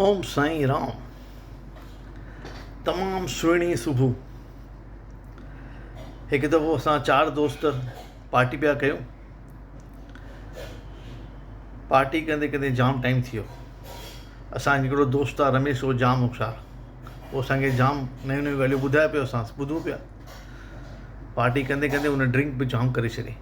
اوم سائين رام تمام سهڻي صبح هڪ دفعو اسان چار دوست پارٽي پيا ڪيون پارٽي ڪندي ڪندي جام ٽائيم ٿي ويو اسان هڪڙو دوست آ رميش هو جام هوشيار هو اسانکي جام نيون نيون ڳالهيون ٻڌائي پيو اسان ٻڌون پيا پارٽي ڪندي ڪندي هن ڊرنڪ به جام ڪري ڇڏي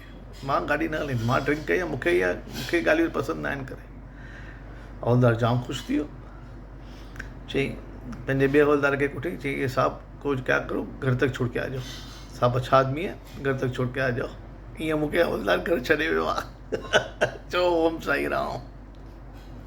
مان گاڏي نه هلائيندس مان ڊرنڪ ڪئي آهي مون کي اها مون کي ڳالهيون پسند ناهن ڪري حولدار ڄام خوش ٿي ويو چيائين پنهنجي ٻئي حولدار کي ڪوٺي چيائين اي صاحب ڪوجھ ڪيا ڪرو گھر تڪ ڇوڙ ڪي آ جائو صاحب اڇا آدمي هي گھر تڪ ڇوڙ ڪي آ جائو ايئن مون کي حولدار گھر ڇڏي ويو آهي چئو اوم سائي رام